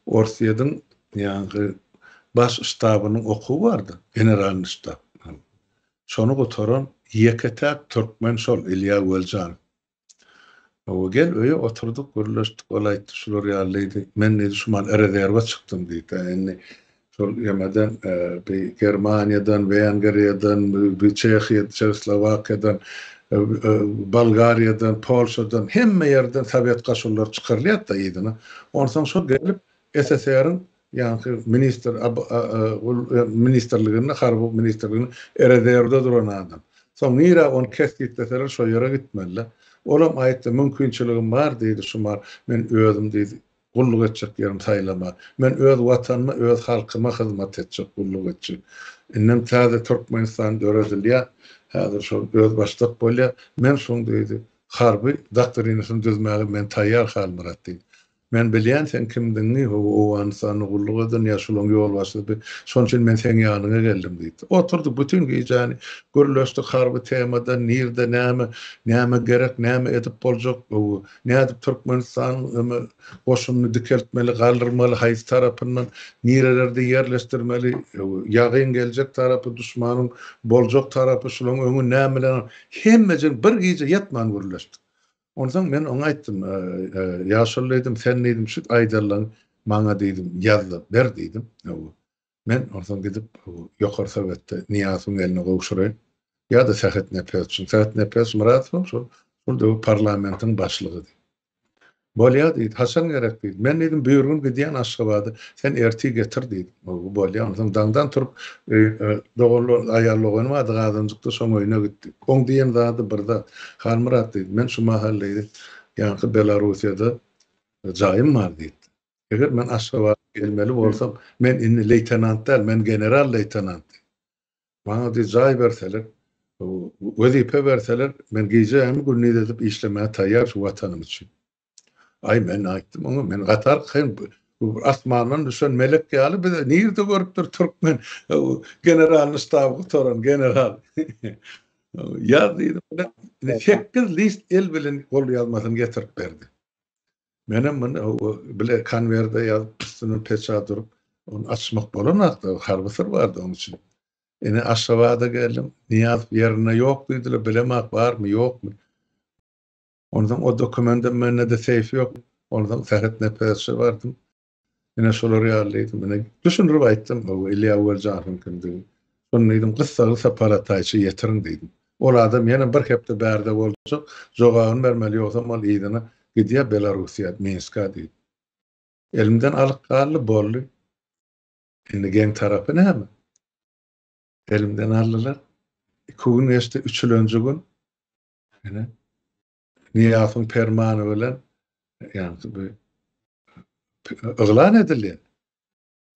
Orsýediň ýaňky Baş ştabynyň okuwy bardy, Generalnyý ştab. Şony gutaran ýeke-täk türkmen şol Ilýa Weljanow. Hawa, gel öýe oturdyk, gürleşdik. Ol aýtdy, şular ýaly diýdi. Men diýdi, şu mal rezerwa çykdym diýdi-ä. Indi Şol ýaňadan bi Germaniýadan, Wengriýadan, bi Çehiýa, Çehoslowakiýadan, Bolgariýadan, Polşadan, hemme ýerden sowet goşunlary çykarylýar-da yzyna. Onsoň şo gelip SSR-iň ýaňky ministr ministrliginde, harby ministrliginde rezerwde duran adam. Soň nirä ony kesgitleseler şo ýere gitmeli-dä. Olam aýtdy, mümkinçiligim bar diýdi, Şumar, men özüm diýdi, Gulluk etjek ýerim saýlama. Men öz Watanyma, öz halkyma hyzmat etjek, gulluk etjek. Indem täze Türkmenistan döredilýär. Häzir şol özbaşdak bolýar. Men şoň diýdi, harby doktrinasyny düzmäge men taýýar, Halmyrat diýdi. Men bilýän seň kimdigiňi, ho-o, Owganystanda gulluk eden ýa şolaň ýolbaşçysy, şonuň üçin men seň ýanyňa geldim diýdi. Oturdyk, bütin gijäni gürleşdik harby temadan, nirde näme, näme gerek, näme edip boljak, ho-o, Nädip Türkmenistanyň öme goşumyny dikeltmeli, galdyrmaly, haýsy tarapyndan, nirelerde ýerleşdirmeli, ýagyn geljek tarapy, duşmanyň boljak tarapy, şulaň öňi nämeler, hemmejen bir gije ýatman gürleşdik. Onsoň men oňa aýtdym, Ýaşuly diýdim, sen diýdim şit aýdarlaň maňa diýdim ýazdyr, ber diýdim. Men onsoň gidip ýokary sowetde Nyýazowyň eline gowşuraýyn. Ýa-da Sähet Nepesowyň. Sähet Nepes Myradowyň şol şol döwür parlamentiň başlygydy. Bolýar diýdi. Haçan gerek diýdi. Men diýdim, büýrgün gidýän Aşgabada. Sen ertir getir diýdim. Howwa, bolýar. Onsoň daňdan turup, doganlar, aýal doganym bardy Gazanjykda, şoň öýüne gitdik. Oň diýen zady bir zat. Halmyrat diýdi, men şu mahal diýdi, ýaňky Belarussiýada jaýym bar diýdi. Eger men Aşgabada gelmeli bolsam, men indi leýtenant däl, men general-leýtenant. Maňa diý jaý berseler, wezipe berseler, men gije hem gündiz edip işlemäge taýýar şu Watanym üçin. Aý, men aýtdym oňa, men gatar, sen asmandan düşen melek ýaly bize nirde görüpdir türkmen generalny ştaby gutaran general. Ýaz diýdim, sekiz list el bilen golýazmasyny getirip berdi. Menem muny hawa bile konwerde ýazyp üstüne peçat urup ony açmak bolanakda harby syr bardy onuň üçin. Ine Aşgabada geldim. Niýazow ýerinde ýok diýdiler. Bilemok barmy ýokmy. Onsoň o dokumendim mende-de seýf ýok. Onsoň Sähet Nepesowa bardym. Ine şolar ýaly mine düşündirip aýtdym o Ilýa Weljahowyň kimdigini. Şony diýdim gyssaly sapara taýça ýetiriň diýdim. Ol adam ýene bir hepde bärde boljak, jogabyny bermeli ýogsam ol yzyna gidýär Belarussiýa, Minska diýdim. Elimden alyp galdy boldy. Indi geň tarapy näme? Elimden aldylar. Iki gün geçdi, üçülenji gün ine Nyýazowyň permany bilen, ýagny bu yglan edildi.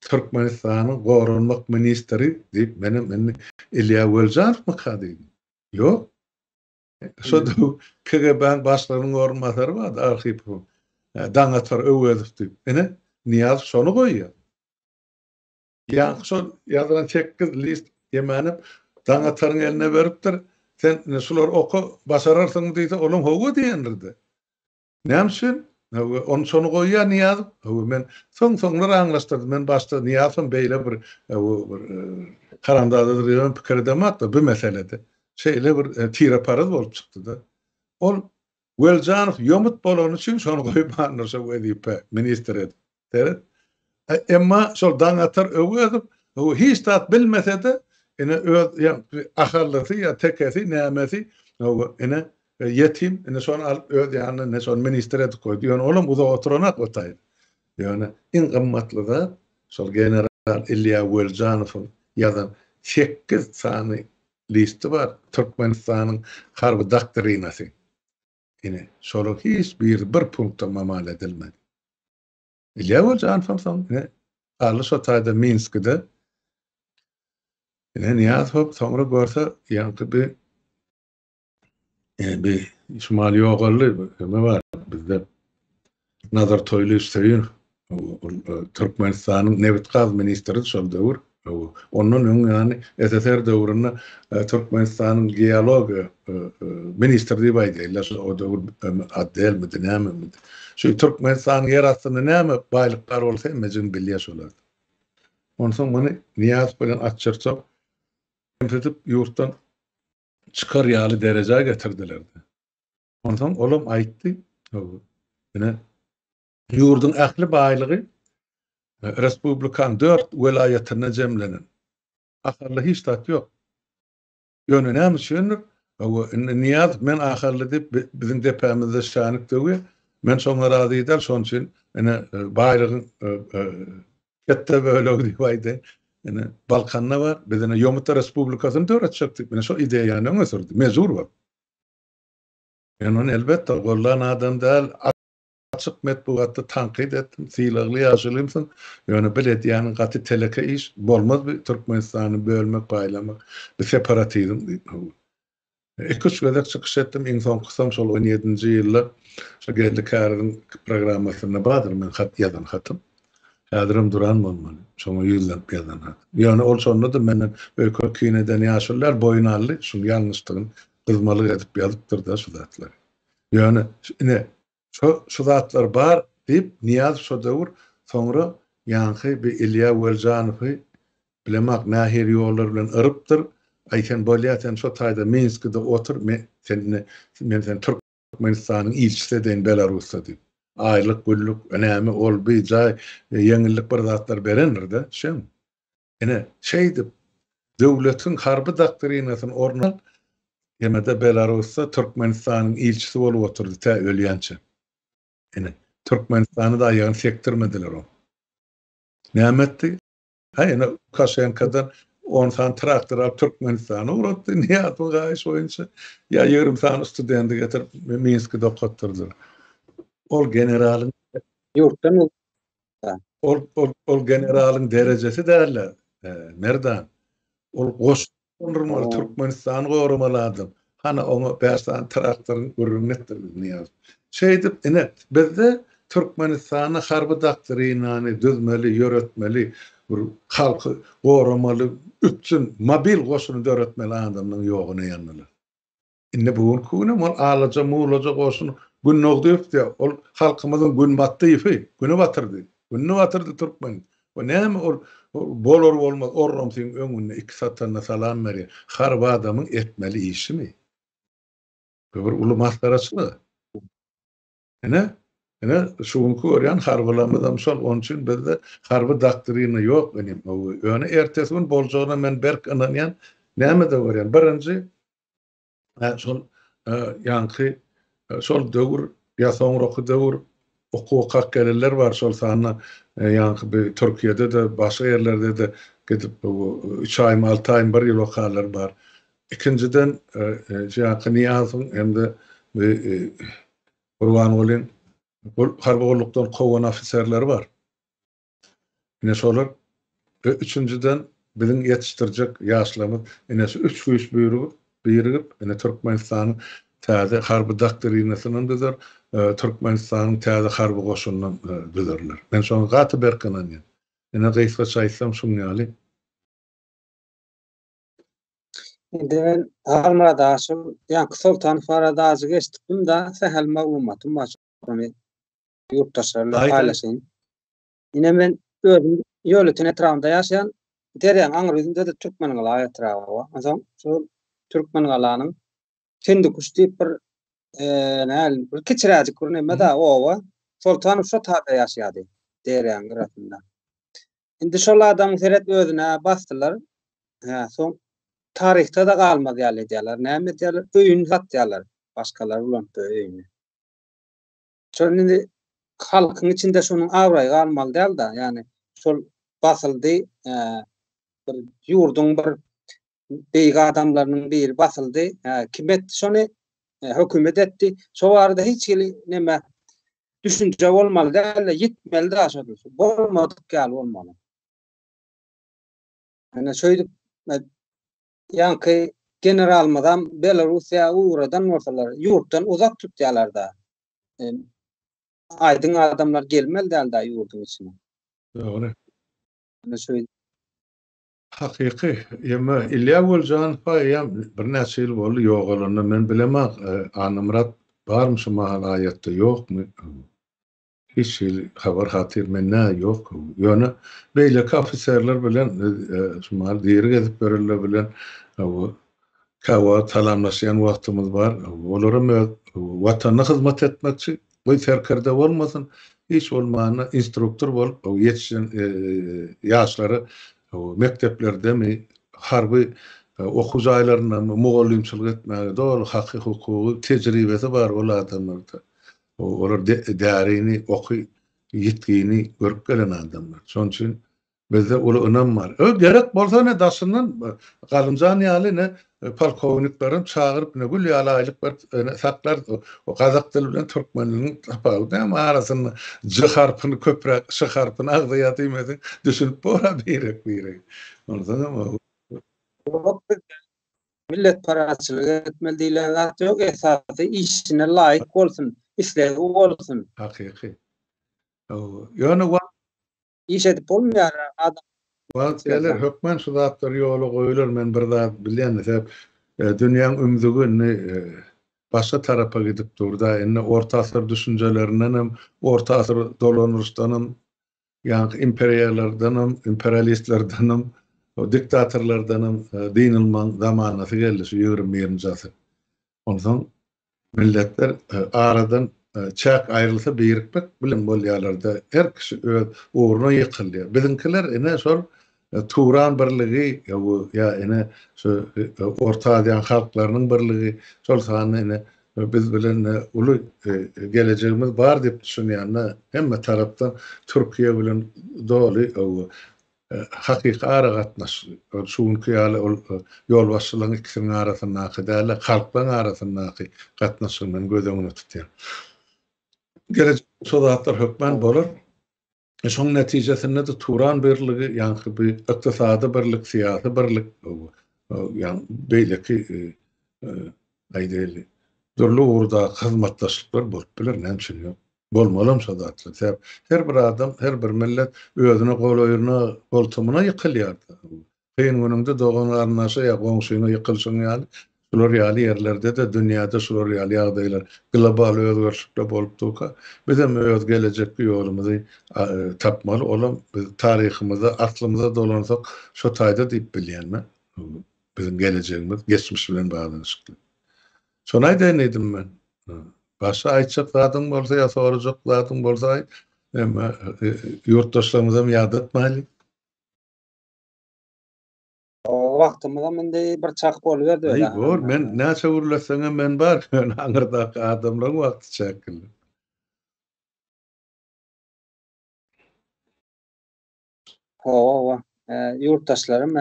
Türkmenistanyň Goranmak ministri diýip, menem indi Ilýa Welijanowmyka diýdim. Ýok. Şo KGB-niň başlygynyň orunbasary bardy, Arhipow. Daňatar Öwezow diýip. Ine, Nyýazow şony goýýar. Ýaňky şol ýazylan sekiz list Ýemänep Daňataryň eline beripdir, Sen indi şulary oka, başararsyňmy diýse, olam hawa diýendir-de. Näme üçin? Hawa, ony şony goýýar Nyýazow. Hawa, men soň-soňlar aňlaşdyrdym. Men başda Nyýazowyň beýle bir, hawa, bir haramzadadyr diýibem pikir edemok-da bu meselede. Şeýle bir tire-paraz bolup çykdy-da. Ol Weljanow ýomut bolany üçin şony goýmandyr şo wezipe ministr edip. Seret. Emma şol Daňatar Öwezow o hiç zat bilmese-de ine öz ahallysy ýa tekesi nämesi o ine ýetim ine şony alyp öz ýanyna ine şony ministr edip goýdy. Ýöne olam uzak oturanok o taýda. Ýöne iň gymmatly zat şol general Ilýa Weljanowyň ýazan sekiz sany liste bar, Türkmenistanyň harby doktrinasy. Ine, şolaryň hiç biri bir punktam amal edilmedi. Ilýa Gojanow soň ine, Garly şo taýda Minskide Ine, Nyýazow soňra görse, ýaňky bir Endi şumal ýogaldy, neme bar bizde Nazar Toýlyýew Söýün, Türkmenistanyň nebit-gaz ministri şol döwür, ondan öň ýany SSR döwründe Türkmenistanyň geologiýa ministri diýip aýdaýlar, şo o döwür otdelmidi, nämemidi. Şu Türkmenistanyň ýer astynda näme baýlyk bar bolsa hemmejigini bilýär şolar. Onsoň muny Nyýazow bilen Atçyrçow kemsidip ýurtdan çykar ýaly derejä getirdiler-de, onsoň olam aýtdy, ine, ýurduň ähli baýlygy respublikanyň dört welaýatynda jemlenen. Ahally hiç zat ýok. Ýöne näme üçindir, indi Nyýazow men ahally diýip biziň depämizde şänik döwýär. Men şoňa razy däl, şonuň üçin ine baýlygyň Hepde bölegi diýip aýdy. Ine, Balkanda bar. Biz ine Ýomutda respublikasyny döretjekdik. Ine şol ideýany öňe sürdi. Mejbur bolup. Men ony elbetde gollan adam däl. Açyk metbugatda tankyt etdim. Sylagly ýaşulymsyň. Ýöne bil edýäniň gaty teleke iş. Bolmaz bi Türkmenistany bölmek, paýlamak. Bi separatizm diýip. Iki-üç gezek çykyş etdim, iň soňkusam şol on ýedinji ýylda şu Geldi Käriziň programmasynda bardyr men hat ýazan hatym. Häzirem duran bolmaly, şoňa ýüzlenip ýazan hat. Ýöne ol şonda-da menden öýke kin eden ýaşulylar boýun aldy, şuň ýalňyşdygyny gyzmalyk edip ýazypdyr-da şu zatlary. Ýöne, ine, Şo, şu zatlar bar, diýip, Nyýazow şo döwür, soňra ýaňky bir Ilýa Weljanowy bilemok nähili ýollar bilen yrypdyr, Aý, sen bolýa, sen şo taýda Minskide otur, men sen, men seni Türkmenistanyň ilçisi edeýin Belarusda diýip. Aýlyk, günlük, näme, ol, bi, jaý, ýeňillik bir zatlar berendir-de, şeň. Ine, şeýdip, döwletiň harby doktrinasyny orun alan Temeda Belarusda Türkmenistanyň ilçisi bolup oturdy, tä ölýänçä. Ine, Türkmenistany-da aýagyny sekdirmediler oň. Näme etdi? Hä, ine, Lukaşenkadan on sany traktor alyp Türkmenistana ugratdy, Nyýazowyň haýyşy boýunça, ýa ýigrimi sany studenti getirip Minskide okatdyrdylar. Ol generalyň. Ýurtdan Ol ol ol generalyň derejesi däl-de, e, Merdan. Ol goş gurmaly Türkmenistany goramaly adam. Hana oňa bäş sany traktoryň gürrüňini etdirmeli Nyýazow. Şeýdip, ine, bizde Türkmenistana harby doktrinany düzmeli, ýöretmeli, bir halky goramaly üpjün mobil goşuny döretmeli adamlaryň ýoguny ýandylar. Indi bu günki günem ol alaja mullaja goşun Gündogdyýewdi, ol halkymyzyň Günbatdyýewi, Günebatyrdy, Günnebatyrdy türkmeniň. Bu näme ol bolar-bolmaz orrumsyň öňünde iki satanda salam berýär. Harby adamyň etmeli işimi? Bu bir uly masgaraçylyk. Ine, ine şu günki görýän harbylarymyzam şol, onuň üçin bizde harby doktrina ýok inim. Ýöne ertesi gün boljagyna men berk ynanýan. Nämede görýän, birinji şol ýaňky şol döwür ýa soňraky döwür okuw okap gelenler bar, şol sanda ýaňky bir Türkiýede-de, başga ýerlerde-de gidip üç aýmy, alty aýmy, bir ýyl okanlar bar. Ikinjiden, şu ýaňky Nyýazowyň hem-de Gurbangulyň harby gullukdan kowan ofiserleri bar. Ine şolar we üçünjiden, biziň ýetişdirjek ýaşlarymyz ine şu üç güýç birigip, ine Türkmenistanyň täze harby doktrinasyndan düzer, Türkmenistanyň täze harby goşunyndan düzerler. Men şoňa gaty berk ynanýan. Ine gysgaça aýtsam şuň ýaly. Indi ben Halmurad Aşyr, Ýanky Soltan barada ajy geçdim da, sähel maglumatym bar. Şony ýurtdaşlar bilen paýlaşaýyn. Ine men özüm Ýolöten etrabynda ýaşaýan. Derýaň aňry ýüzünde-de Türkmengala etraby bar. Onsoň şu Türkmengalanyň Kendikuş diýip bir näl bir kiçiräjik bir neme-de oba. Soltan şu taýda ýaşaýardy. Derýaň gyrasynda. Indi şol adam seret özüne basdylar. Hä, soň taryhda da galmaz ýaly edýärler. Näme edýärler? Öýüni satýarlar. Başgalar ulan öýüni. Şol indi halkyň içinde şonuň abraýy galmaly däl-de, ýagny şol basyldy, bir ýurduň bir beýik adamlarynyň biri basyldy. Kim etdi şony? Hökümet etdi. Şo barada hiç hili näme düşünje bolmaly däl, ýitmeli daş edilse. Bolmadyk ýaly bolmaly. Ana şeýdip ýanky generalmyzam Belarusiýa ugradan bolsalar, ýurtdan uzak tutýarlar-da. Aýdyň adamlar gelmeli däl-de ýurduň içine. Dogry. Ana şeýdip Hakyky, emma Ilýa Weljanowa eýýäm birnäçe ýyl boldy ýogalanyna. Men bilemok, Annamyrat barmy şu mahal aýatda, ýokmy? Hiç hili habar-hatyr mende ýok. Ýöne beýleki ofiserler bilen biz şu mahal diri gezip ýörenler bilen käwagt salamlaşýan wagtymyz bar. Olaram öz Watanyna hyzmat etmekçi, Goý serkerde bolmasyn, hiç bolmanda instruktor bolup ýetişen ýaşlary mekdeplerdemi, harby okuw jaýlaryndamy mugallymçylyk etmäge doly haky, hukugy, tejribesi bar ol adamlarda. Olar därini, oky, ýitgini görüp gelen adamlar. Şonuň üçin Bizde uly ynam bar. Öý gerek bolsa ne daşyndan Galymjan ýaly ne polkowniklerem çagyryp ne gül ýaly aýlyk berip saklarys. O gazak dili bilen türkmen diliniň tapawudy näme arasynda J harpyny köpräk Ş harpyny agzaýar diýmesek düşünip bora birek biregi. Onsoňam o. Ýok bizde milletparazçylyk etmeli diýlen zat ýok esasy işine laýyk bolsun islegi bolsun. Hakyky. Ýöne wagt Iş edip bolmaýar adam. Wagt geler hökman şu zatlar ýola goýular men bir zat bilýän sebäp dünýäň ümzügi indi başga tarapa gidip durda indi orta asyr düşünjelerindenem orta asyr dolanryşdanam ýaňky imperiýalardanam imperialistlerdenem diktatorlardanam dynylmaň zamanasy geldi şu ýigrimi birinji asyr Onsoň milletler aradan çäk aýrylsa birikmek bilen bolýarlarda her kişi öz ugruna ýykylýar. Biziňkiler ine şol Turan birligi bu ýa ine şu Orta Aziýanyň halklarynyň birligi şol sanda ine biz bilen uly gelejegimiz bar diýip düşünýänler hemme tarapdan Türkiýe bilen doly Hakyky aragatnaş, şu günki ýaly ol ýolbaşçylaryň ikisiniň arasyndaky däl-de, halklaryň arasyndaky gatnaşygyny göz öňünde tutýar. Gelejekde şo zatlar hökman bolar. Şonuň netijesinde-de Turan birligi, ýaňky bu ykdysady birlik, syýasy birlik, ýagny beýleki, aýdaýly, dürli ugurdaky hyzmatdaşlyklar bolup biler, näme üçin ýok. Bolmalam şo zatlar. Sebäp her bir adam, her bir millet özüne golaýyna, goltumyna ýykylýar. Kyn günüňde dogan-garyndaşa ýa goňşyňa ýykylyşyň ýaly, şular ýaly ýerlerde-de, dünýäde şular ýaly ýagdaýlar, global özgerişlikler bolup durka, bizem öz gelejekki ýolumyzy tapmaly. Olam biz taryhymyza, aslymyza dolansak, şo taýda diýip bilýän men. Biziň gelejegimiz geçmiş bilen baglanyşykly. Şony aýdaýyn diýdim men. Başga aýtjak zadyň bolsa ýa sorajak zadyň bolsa aýt. Emma ýurtdaşlarymyzam ýadatmaýlyň. Ooo wagtymyzam indi bir çak boluberdi öýdýän. Aý bor, men näçe gürleseňem men bar, ýöne aňyrdaky adamlaryň wagty çäkli. Hawa, ýurtdaşlarym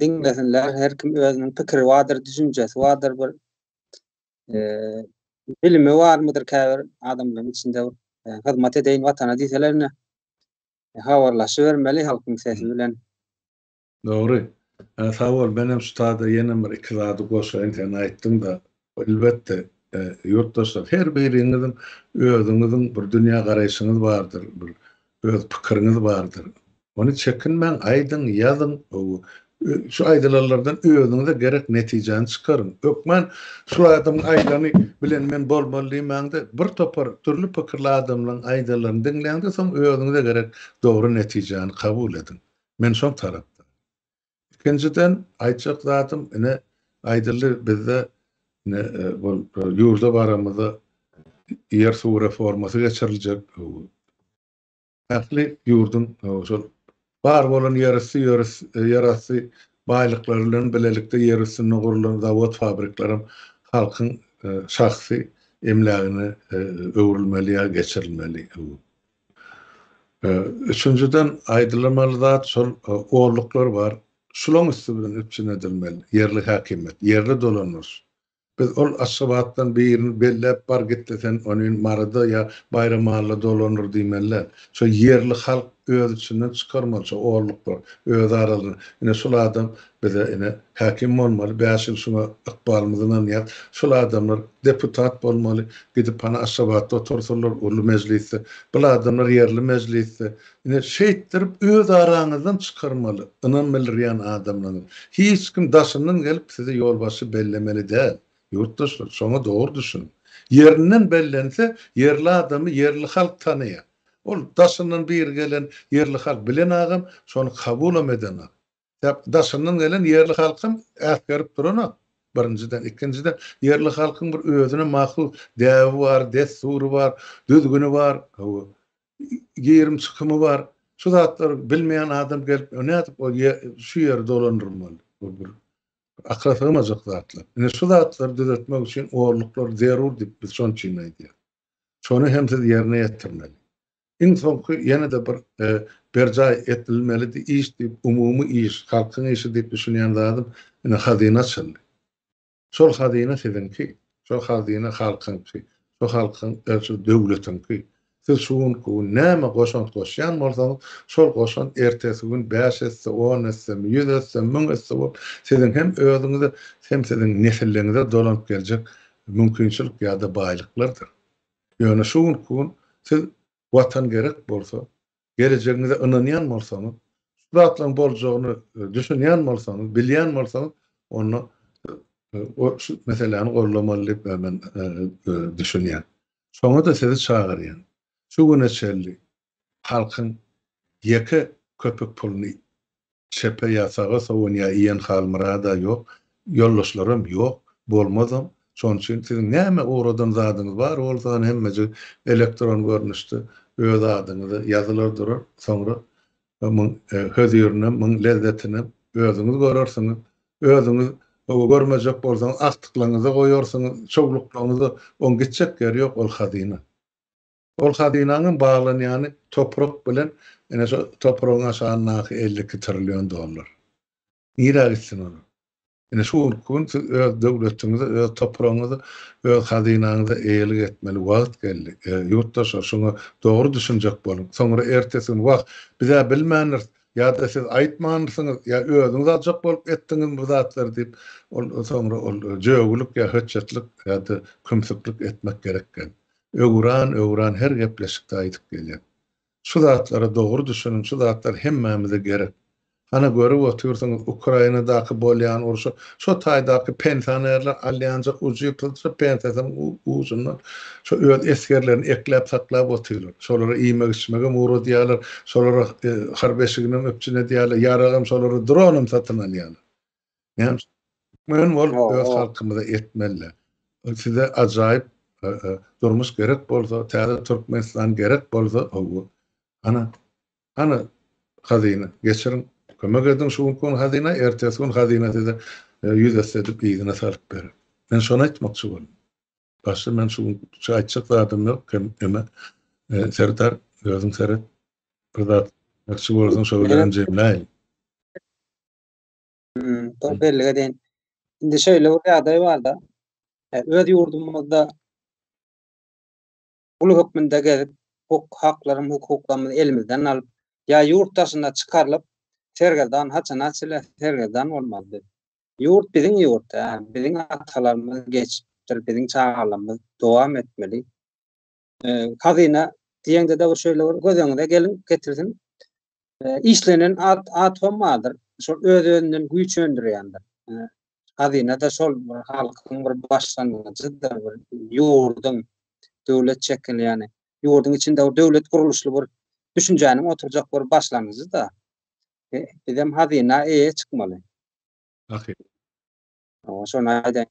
diňlesinler, her kim özüniň pikiri bardyr, düşünjesi bardyr, bir bilimi barmydyr käbir adamlaryň içinde hyzmat edeýin watana diýseler ine habarlaşybermeli halkyň sesi bilen. Dogry. Sag bol, menem şu taýda ýene bir iki zady goşaýyn, sen aýtdyň-da, Elbetde, ýurtdaşlar, her biriňiziň özüňiziň bir dünýä garaýşyňyz bardyr, bir öz pikiriňiz bardyr. Ony çekinmäň, aýdyň, ýazyň, şu aýdylanlardan özüňize gerek netijäni çykaryň. Hökman şul adamyň aýdany bilen men bolmaly diýmäň-de, bir topar dürli pikirli adamlaryň aýdanlaryny diňläň-de, soň özüňize gerek dogry netijäni kabul ediň. Men şol tarapdan. Ikinjiden aýtjak zadym ine aýdyldy bizde ine bol ýurda baramyzda ýer suw reformasy geçiriljek ähli ýurduň şol bar bolan ýerüsti ýerasty baýlyklary bilen bilelikde ýer üstünde gurulan zawod fabriklaram halkyň şahsy emlägine öwrülmeli ýa geçirilmeli. Üçünjiden, aýdylmaly zat şol olluklar bar. Şulaň üsti bilen üpjün edilmeli, ýerli häkimiýet, ýerli dolandyryş. Biz ol Aşgabatdan birini belläp, bar git-de sen onin Maryda ýa Baýramalla dolandyr diýmeli däl. Şo ýerli halk öz içinden çykarmaly şo olluklar, öz aralarynda. Ine şol adam Bize ine, häkim bolmaly, bäş ýyl şuňa ykbalymyzy ynanýas. Şul adamlar deputat bolmaly, gidip hany Aşgabatda otursynlar, uly mejlisde. Bul adamlar ýerli mejlisde. Ine, şeýtdirip öz araňyzdan çykarmaly, ynam bildirýän adamlaňyz. Hiç kim daşyndan gelip sizi ýolbaşçy bellemeli däl. Ýurtdaşlar, şoňa dogry düşüniň. Ýerinden bellense, ýerli adamy ýerli halk tanaýar. Ol daşyndan biri gelen ýerli halk bilenagam, şony kabulam edenok. Sebäbi daşyndan gelen ýerli halkam äsgerip duran-a, birinjiden. Ikinjiden, ýerli halkyň bir özüne mahsus däbi bar, dessury bar, düzgüni bar, hawa, girim-çykymy bar. Şu zatlary bilmeýän adam gelip, nädip ol şu ýeri dolandyrmaly? Bu bir akyla sygmajak zatlar. Ine, şu zatlary düzetmek üçin orluklar zerur diýip, biz şonuň üçin aýdýarys. Şony hem siz ýerine ýetirmeli. Iň soňky ýene-de bir berjaý etdilmelidi iş diýip, umumy iş, halkyň işi diýip düşünýän zadym ine hazyna açyldy. Şol hazyna siziňki, şo hazyna halkyňky, şo halkyň, şu döwletiňki. Siz şu gün, bu gün näme goşant goşýan bolsaňyz, şol goşant ertesi gün bäş esse, on esse, ýüz esse, müň esse bolup, siziň hem özüňize, hem siziň nesilleriňize dolanyp geljek mümkinçilik ýa-da baýlyklardyr. Ýöne şu günki gün siz Watan gerek bolsa, gelejegiňize ynanýan bolsaňyz, şu zatlaryň boljagyny düşünýän bolsaňyz, bilýän bolsaňyz, onda şu meseläni goldamaly diýip men düşünýän. Şoňa-da sizi çagyrýan. Şu güne çenli halkyň ýeke köpük puluny çepe ýa saga sowun ýa iýen Halmyrada ýok, ýoldaşlaram ýok, bolmazam. Şonuň üçin siziň näme ugradan zadyňyz bar bolsany hemmejik elektron görnüşde öz adyňyza ýazylar durar, soňra muň hözirinam, muň lezzetinem özüňiz görersiňiz. Özüňiz görmejek bolsaňyz agtyklaňyza goýarsyňyz, çowluklaňyza, oň gitjek ýeri ýok ol hazyna. Ol hazynanyň baglanýany toprak bilen, ine şo topragyň aşagyndaky elli iki trillion dollar. Nirä gitsin ol? Ine şu günki gün siz öz döwletiňize, öz topragyňyza, öz hazynaňyza eýelik etmeli wagt geldi. Ýurtdaşlar şuňa dogry düşünjek boluň. Soňra ertesi gün wah, biz-ä bilmändiris, ýa-da siz aýtmandysyňyz, ýa özüňiz aljak bolup etdiňizmi bu zatlary diýip, ol soňra ol jögülik ýa hötjetlik ýa-da kümsüklik etmek gerek geldi. Öwran, öwran her gepleşikde aýdyp gelýän. Şu zatlara dogry düşüniň, şu zatlar hemmämize gerek. Hana görüp otyrsyňyz Ukrainadaky bolýan urşy, şo taýdaky pensionerler alýanja ujy pylçyr pensiýasynyň ujundan şo öz esgerlerini ekläp saklap otyrlar. Şolara iýmek-içmegem ugradýarlar, şolara harp eşiginem üpjün edýärler, ýaragam şolara dronam satyn alýarlar. Yani türkmen bol öz halkymyza etmeli. Size ajaýyp e, e, durmuş gerek bolsa, täze Türkmenistan gerek bolsa, owu. Ana, ana hazyna geçirin. Kömek edin şu gün hazyna, ertesi gün hazyna size e, yüz etse edip iyini salıp berin. Men şunu aytmakçı oldum. Başta men şu gün şu aytacak zadım yok. Hem, hem e, serdar, özün seret. Bir zat, şu bolsun, şu bilen cemleyin. Hmm, dur bellige deyin. Şimdi şöyle bir ýagdaý bar da. E, öz ýurdumyzda ulu hökmünde gezip, hukuk haklarym, hukuklarymyzy elimizden alyp, ýa ýurt daşyna çykarylyp, sergezdan haçana çile sergezdan bolmaly. Ýurt biziň ýurt, biziň atalarymyz geçipdir, biziň çagalarymyz dowam etmeli. Hazyna diýende de bir şeýle bir göz öňüne gelin getirsin. Işlenen at atom bardyr. Şol öz özünden güýç öndürýändir. Hazyna da şol bir halkyň bir başlangyjydyr, bir ýurduň döwlet şekili ýany. Ýurduň içinde bir döwlet gurluşly bir düşünjäniň oturjak bir başlangyjy da. Bizem hazyna eýe çykmaly. Ahyry. Şony aýdaýyn.